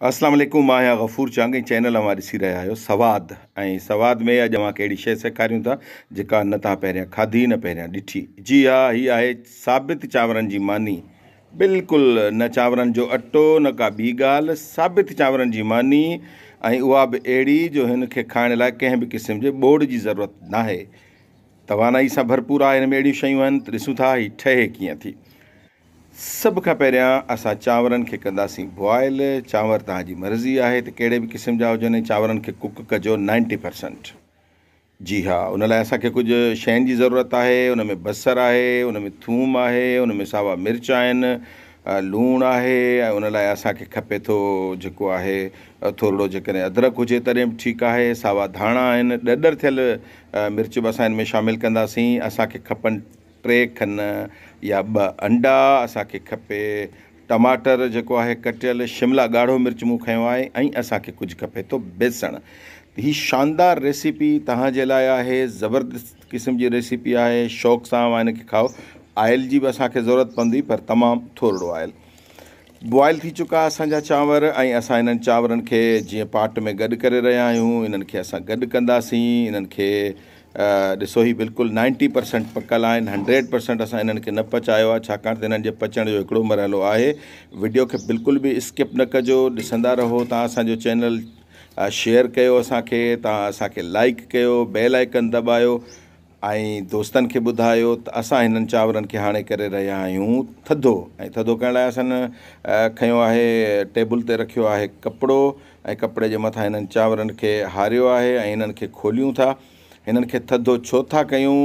اسلام عليڪم مان آهيان غفور چانگي چينل اوهان ڏسي رهيا آهيو سواد ۽ سواد ۾ اڄ اوهان کي اهڙي شيء سيکاريون ٿا جيڪا نه تهان پهريان کاڌي نه پهريان ڏٺي جي ها هي آهي ثابت چانورن جي ماني بلڪل نه چانورن جو اٽو نه ڪا ٻي ڳالهه ثابت چانورن جي ماني ۽ اها به اهڙي جو هن کي کائڻ لاء ڪنهن به قسم جي ٻوڙ جي ضرورت ناهي توانائي سان ڀرپور آهي هن ۾ اهڙيون شيون آهن ته ڏسون ٿا هي ٺهي ڪيئن ٿي سڀ کان پهريان اسان چانورن کي ڪنداسين بوائل، چانور توهان جي مرضي آهي ته ڪهڙي به قسم جا هجن ۽ چانورن کي ڪڪ ڪجو نائنٽي پرسنٽ جي ها ان لاء اسان کي ڪجهه شين جي ضرورت آهي ان ۾ بصر آهي ان ۾ ٿوم آهي ان ۾ ساوا مرچ آهن لوڻ آهي ۽ ان لاء اسان کي کپي ٿو جيڪو آهي ٿورڙو جيڪڏهن ادرڪ هجي تڏهن به ٺيڪ آهي ساوا ڌاڻا آهن ڏڏر ٿيل مرچ به اسان ان ۾ شامل ڪنداسين اسان کي کپن ٽي کن يا ٻه انڊا اسان کي کپي، ٽماٽر جيڪو آهي ڪٽيل، شملا ڳاڙهو مرچ مون کنيو آهي ۽ اسان کي ڪجهه کپي ٿو بيسڻ. هي شاندار ريسيپي توهان جي لاء آهي، زبردست قسم جي ريسيپي آهي، شوق سان اوهان هن کي کائو. آئل جي به اسان کي ضرورت پوندي پر تمام ٿورڙو آئل. بوائل ٿي چڪا اسان جا چانور ۽ اسان انهن چانورن کي جيئن پاٽ ۾ گڏ ڪري رهيا آهيون انهن کي اسان گڏ ڪنداسين انهن کي ڏسو هي بلڪل نائنٽي پرسنٽ پڪل آهن هنڊريڊ پرسنٽ اسان انهن کي نه پچايو آهي ڇاڪاڻ ته انهن جي پچڻ جو هڪڙو مرحلو آهي وڊيو کي بلڪل به اسڪپ نه ڪجو ڏسندا رهو تان اسان جو چينل شيئر ڪيو اسان کي تان اسان کي لائڪ ڪيو بيل آئڪن دٻايو ۽ دوستن کي ٻڌايو ته اسان هنن چانورن کي هاڻي ڪري رهيا آهيون ٿڌو ۽ ٿڌو ڪرڻ لاء اسان کنيو آهي ٽيبل تي رکيو آهي ڪپڙو ۽ ڪپڙي جي مٿان هنن چانورن کي هاريو آهي ۽ هنن کي کوليون ٿا هنن کي ٿڌو ڇو ٿا ڪيون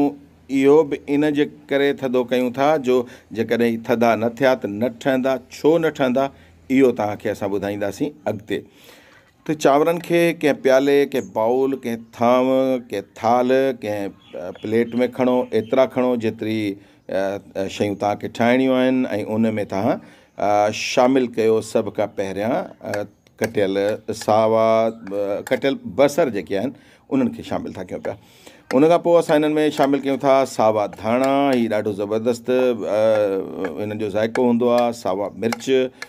اهو به ان جي ڪري ٿڌو ڪيون ٿا جو جيڪڏهن هي ٿڌا نه ٿيا ته نه ٺهندا ڇو نه ٺهندا اهو توهان کي اسان ٻڌائينداسين اڳتي ته چانورن کي ڪنهن پيالي، ڪنهن بائول، ڪنهن ٿانو، ڪنهن ٿالهه، ڪنهن پليٽ ۾ کڻو، ايترا کڻو جيتري شيون توهان کي ٺاهڻيون آهن ۽ ان ۾ توهان شامل ڪيو سڀ کان پهريان ڪٽيل ساوا ڪٽيل بصر جيڪي آهن انهن کي شامل ٿا ڪيون پيا ان کان پوء اسان انهن ۾ شامل ڪيون ٿا ساوا ڌاڻا هي ڏاڍو زبردست انهن جو ذائقو هوندو آهي ساوا مرچ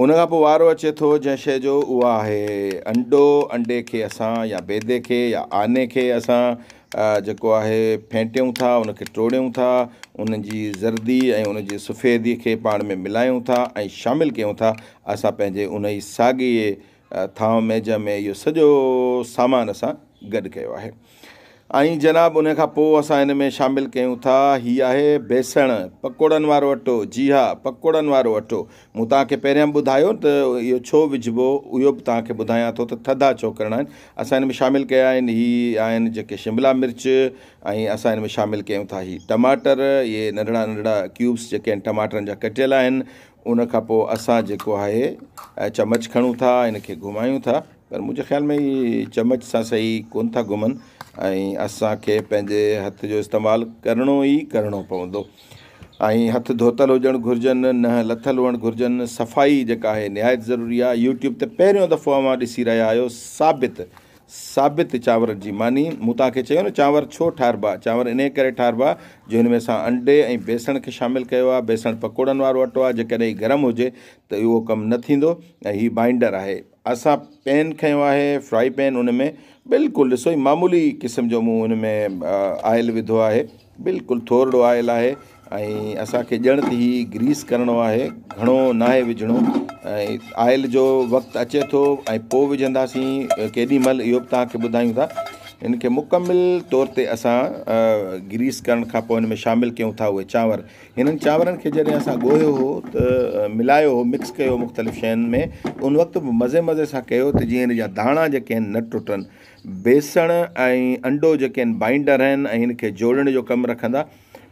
ان کان پوء وارو اچي ٿو جنهن شيء جو، اها آهي انڊو، انڊي کي اسان يا بيدي کي يا آني کي اسان جيڪو آهي ڦينٽيون ٿا، ان کي ٽوڙيون ٿا، ان جي زردي ۽ ان جي سفيدي کي پاڻ ۾ ملايون ٿا ۽ شامل ڪيون ٿا، اسان پنهنجي انهي ساڳئي ٿانو ميجم ۾ اهو سڄو سامان اسان گڏ ڪيو آهي ۽ جناب ان کان پوء اسان ان ۾ شامل ڪيون ٿا هي آهي بيسڻ پڪوڙن وارو اٽو جي ها پڪوڙن وارو اٽو مون تان کي پهريان ٻڌايو ته اهو ڇو وجهبو اهو به تان کي ٻڌايان ٿو ته ٿڌا ڇو ڪرڻا آهن اسان ان ۾ شامل ڪيا آهن هي آهن جيڪي شملا مرچ ۽ اسان ان ۾ شامل ڪيون ٿا هي ٽماٽر اهي ننڍڙا ننڍڙا ڪيوبس جيڪي آهن ٽماٽرن جا ڪٽيل آهن ان کان پوء اسان جيڪو آهي چمچ کڻون ٿا ان کي گهمايون ٿا پر منهنجي خيال ۾ هي چمچ سان سهي ڪون ٿا گهمن ۽ اسانکي پنهنجي هٿ جو استعمال ڪرڻو ئي ڪرڻو پوندو ۽ هٿ ڌوتل هجڻ گهرجن نه لٿل هئڻ گهرجن صفائي جيڪا آهي نهايت ضروري آهي يوٽيوب تي پهريون دفعو اوهان ڏسي رهيا آهيو ثابت ثابت، چانور جي ماني، مون توهان کي چيو نه چانور ڇو ٺاهربا، چانور انهيء ڪري ٺاهربا جو هن ۾ اسان انڊي ۽ بيسڻ کي شامل ڪيو آهي، بيسڻ پڪوڙن وارو اٽو آهي، جيڪڏهن هي گرم هجي ته اهو ڪم نه ٿيندو ۽ هي بائينڊر آهي. اسان پين کنيو آهي، فرائي پين، ان ۾ بلڪل ڏسو هي معمولي قسم جو مون هن ۾ آئل وڌو آهي، بلڪل ٿورڙو آئل آهي، ۽ اسان کي ڄڻ ته هي گريس ڪرڻو آهي گهڻو ناهي وجهڻو ۽ آئل جو وقت اچي ٿو ۽ پوء وجهنداسين ڪيڏي مهل اهو به تهانکي ٻڌايون ٿا ان کي مڪمل طور تي اسان گريس ڪرڻ کان پوء ان ۾ شامل ڪيون ٿا اهي چانور هنن چانورن کي جڏهن اسان ڳوهيو هو ته ملايو هو مڪس ڪيو مختلف شين ۾ ان وقت به مزي مزي سان ڪيو ته جيئن ان جا داڻا جيڪي آهن نه ٽٽن بيسڻ ۽ انڊو جيڪي آهن بائنڊر آهن ۽ هن کي جوڙڻ جو ڪم رکندا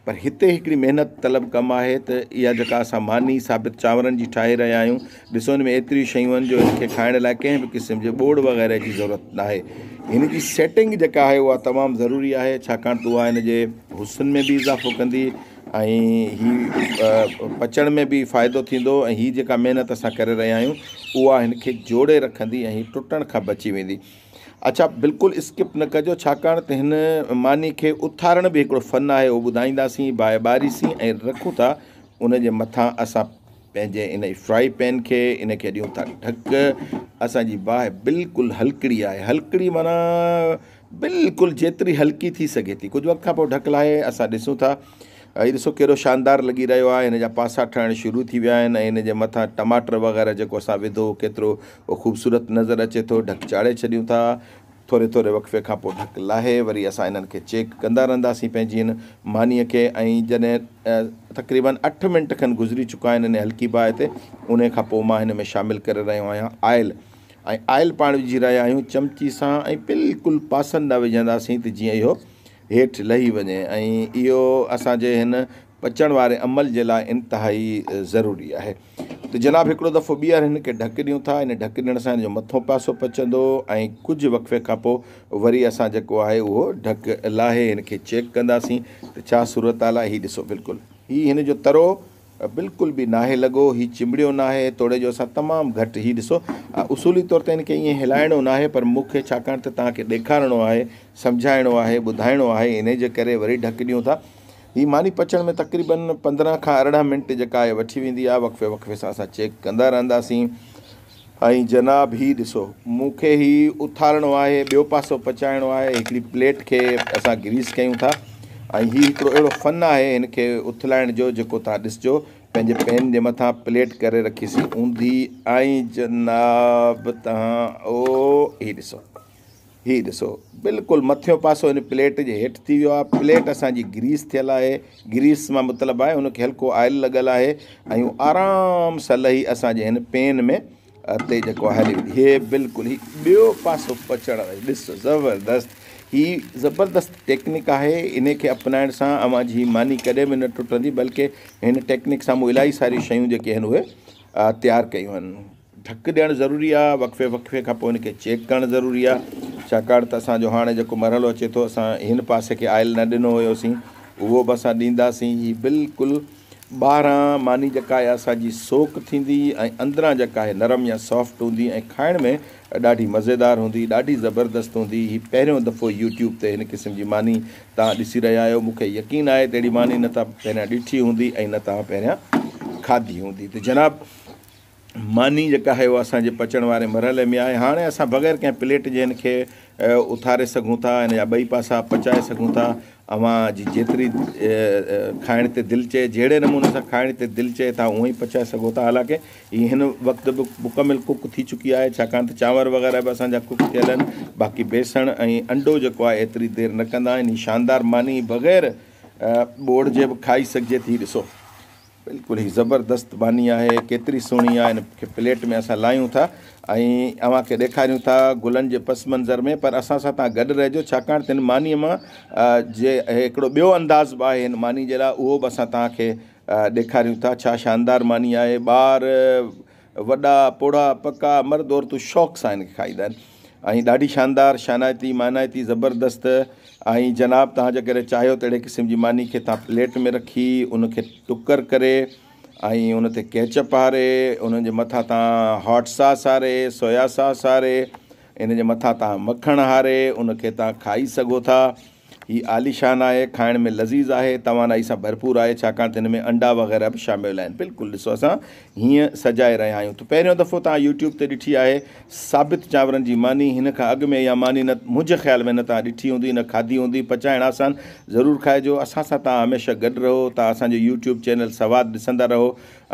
پر هتي هڪڙي محنت طلب ڪم آهي ته اها جيڪا اسان ماني ثابت چانورن جي ٺاهي رهيا آهيون، ڏسو هن ۾ ايتريون شيون آهن جو هن کي کائڻ لاء ڪنهن به قسم جي ٻوڙ وغيره جي ضرورت ناهي. هن جي سيٽنگ جيڪا آهي اها تمام ضروري آهي ڇاڪاڻ ته اها هن جي حسن ۾ به اضافو ڪندي ۽ هي پچڻ ۾ به فائدو ٿيندو ۽ هي جيڪا محنت اسان ڪري رهيا آهيون اها هن کي جوڙي رکندي ۽ هي ٽٽڻ کان بچي ويندي. اچا بلڪل اسڪپ نه ڪجو ڇاڪاڻ ته هن معني کي اٿارڻ به هڪڙو فن آهي اهو ٻڌائينداسين باهه ٻاريسين ۽ رکون ٿا ان جي مٿان اسان پنهنجي ان فرائي پين کي ان کي ڏيون ٿا ڍڪ اسان جي باهه بلڪل هلڪڙي آهي هلڪڙي معنيٰ بلڪل جيتري هلڪي ٿي سگهي ٿي ڪجهه وقت کان پوء ڍڪ لاهي اسان ڏسون ٿا هي ڏسو ڪيڏو شاندار لڳي رهيو آهي هن جا پاسا ٺهڻ شروع ٿي ويا آهن ۽ هن جي مٿان ٽماٽر وغيره جيڪو اسان وڌو هو ڪيترو خوبصورت نظر اچي ٿو ڍڪ چاڙهي ڇڏيون ٿا ٿوري ٿوري وقفي کان پوء ڍڪ لاهي وري اسان انهن کي چيڪ ڪندا رهنداسين پنهنجي هن مانيء کي ۽ جڏهن تقريبن اٺ منٽ کن گذري چڪا آهن انهي هلڪي باهه تي انهي کان پوء مان هن ۾ شامل ڪري رهيو آهيان آئل ۽ آئل پاڻ وجهي رهيا آهيون چمچي سان ۽ بلڪل پاسن ڏانهن وجهنداسين ته جيئن اهو هيٺ لهي وڃي ۽ اهو اسان جي هن پچڻ واري عمل جي لاء انتهائي ضروري آهي ته جناب هڪڙو دفعو ٻيهر هن کي ڍڪ ڏيون ٿا ان ڍڪ ڏيڻ سان هن جو مٿون پاسو پچندو ۽ ڪجهه وقفي کان پوء وري اسان جيڪو آهي اهو ڍڪ لاهي هن کي چيڪ ڪنداسين ته ڇا صورتحال آهي هي ڏسو بلڪل هي هن جو ترو بلڪل به ناهي لڳو، هي چنبڙيو ناهي، توڙي جو اسان تمام گهٽ هي ڏسو اصولي طور ته هن کي ائين هلائڻو ناهي پر مون کي ڇاڪاڻ ته توهان کي ڏيکارڻو آهي، سمجهائڻو آهي، ٻڌائڻو آهي انهي جي ڪري وري ڍڪ ڏيون ٿا. هي ماني پچڻ ۾ تقريباً پندرهن کان ارڙهن منٽ جيڪا آهي وٺي ويندي آهي، وقفي وقفي سان اسان چيڪ ڪندا رهنداسين. ۽ جناب هي ڏسو مون کي هي اٿارڻو آهي ٻيو پاسو پچائڻو آهي هڪڙي پليٽ کي اسان گريس ڪيون ٿا ۽ هي هڪڙو اهڙو فن آهي هن کي اٿلائڻ جو جيڪو توهان ڏسجو پنهنجي پين جي مٿان پليٽ ڪري رکي سي اوندي ۽ جناب توهان او هي ڏسو. هي ڏسو بلڪل مٿيون پاسو هن پليٽ جي هيٺ ٿي ويو آهي پليٽ اسان جي گريس ٿيل آهي گريس مان مطلب آهي ان کي هلڪو آئل لڳل آهي ۽ آرام سان لهي اسان جي هن پين ۾ تي جيڪو هلي ويندي هي بلڪل هي ٻيو پاسو پچڻ ڏس زبردست هي زبردست ٽيڪنڪ آهي ان کي اپنائڻ سان اوهان جي ماني ڪڏهن به نه ٽٽندي بلڪه هن ٽيڪنڪ سان مون الائي ساري شيون جيڪي آهن اهي تيار ڪيون آهن ڌڪ ڏيڻ ضروري آ، وقفي وقفي کان پوء ان کي چيڪ ڪرڻ ضروري آ، ڇاڪاڻ ته اسان جو هاڻي جيڪو مرحلو اچي ٿو اسان هن پاسي کي آئل نه ڏنو هيوسين اهو به اسان ڏينداسين، هي بلڪل ٻاهران ماني جيڪا آهي اسان جي سوڪ ٿيندي ۽ اندران جيڪا آهي نرم يا سافٽ هوندي ۽ کائڻ ۾ ڏاڍي مزيدار هوندي ڏاڍي زبردست هوندي، هي پهريون دفعو يوٽيوب تي هن قسم جي ماني توهان ڏسي رهيا آهيو، مون کي يقين آهي ته اهڙي ماني نه توهان پهريان ڏٺي هوندي ۽ نه توهان پهريان کاڌي هوندي ته جناب! ماني جيڪا آهي اها اسان جي پچڻ واري مرحلي ۾ آهي هاڻي اسان بغير ڪنهن پليٽ جي هن کي اٿاري سگهون ٿا هن جا ٻئي پاسا پچائي سگهون ٿا اوهان جي جيتري کائڻ تي دل چئي جهڙي نموني سان کائڻ تي دل چئي تها اونهي پچائي سگهو ٿا حالانڪه هي هن وقت به مڪمل ڪڪ ٿي چڪي آهي ڇاڪاڻ ته چانور وغيره به اسان جا ڪڪ ٿيل آهن باقي بيسڻ ۽ انڊو جيڪو آهي ايتري دير نه ڪندا آهن هي شاندار ماني بغير ٻوڙ جي به کائي سگهجي ٿي ڏسو بلڪل هي زبردست ماني آهي ڪيتري سهڻي آهي هن کي پليٽ ۾ اسان لاهيون ٿا ۽ اوهان کي ڏيکاريون ٿا گلن جي پس منظر ۾ پر اسان سان توهان گڏ رهجو ڇاڪاڻ ته هن ماني مان جي هڪڙو ٻيو انداز به آهي هن ماني جي لاء اهو به اسان توهان کي ڏيکاريون ٿا ڇا شاندار ماني آهي ٻار وڏا، پوڙها، پڪا، مرد عورتون شوق سان هن کي کائيندا آهن ۽ ڏاڍي شاندار، شانائتي، مانائتي، زبردست ۽ جناب توهان جي ڪڏهن چاهيو ته اهڙي قسم جي ماني کي توهان پليٽ ۾ رکي ان کي ٽڪر ڪري ۽ ان تي ڪيچپ هاري ان جي مٿان توهان هاٽ ساس هاري، سويا ساس هاري، ان جي مٿان توهان مکڻ هاري ان کي توهان کائي سگهو ٿا. هي عاليشان آهي، کائڻ ۾ لذيذ آهي، توانائي سان ڀرپور آهي، ڇاڪاڻ ته هن ۾ انڊا وغيره به شامل آهن. بلڪل ڏسو اسان هيئن سجائي رهيا آهيون ته پهريون دفعو توهان يوٽيوب تي ڏٺي آهي ثابت چانورن جي ماني، هن کان اڳ ۾ اها ماني نه منهنجي خيال ۾ نه توهان ڏٺي هوندي نه کاڌي هوندي، پچائڻ آسان، ضرور کائجو، اسان سان توهان هميشه گڏ رهو، توهان اسان جو يوٽيوب چينل سواد ڏسندا رهو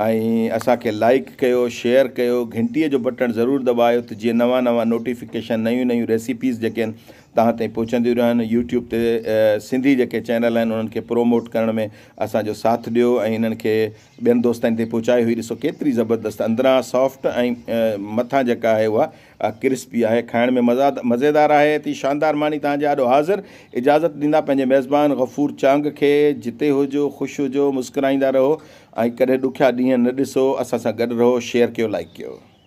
۽ اسان کي لائيڪ ڪيو، شيئر ڪيو، گهنٽي جو بٽڻ ضرور دٻايو ته جيئن نوان نوان نوٽيفڪيشن، نيون نيون ريسيپيز جيڪي آهن. توهان تائين پهچنديون رهن يوٽيوب تي سنڌي جيڪي چينل آهن انهن کي پروموٽ ڪرڻ ۾ اسان جو ساٿ ڏيو ۽ انهن کي ٻين دوستن تائين پهچايو هي ڏسو ڪيتري زبردست اندران سافٽ ۽ مٿان جيڪا آهي اها ڪرسپي آهي کائڻ ۾ مزاد مزيدار آهي اتي شاندار ماني توهان جي آڏو حاضر اجازت ڏيندا پنهنجي ميزبان غفور چانگ کي جتي هجو خوش هجو مسڪرائيندا رهو ۽ ڪڏهن ڏکيا ڏينهن نه ڏسو اسان سان گڏ رهو شيئر ڪيو لائيڪ ڪيو.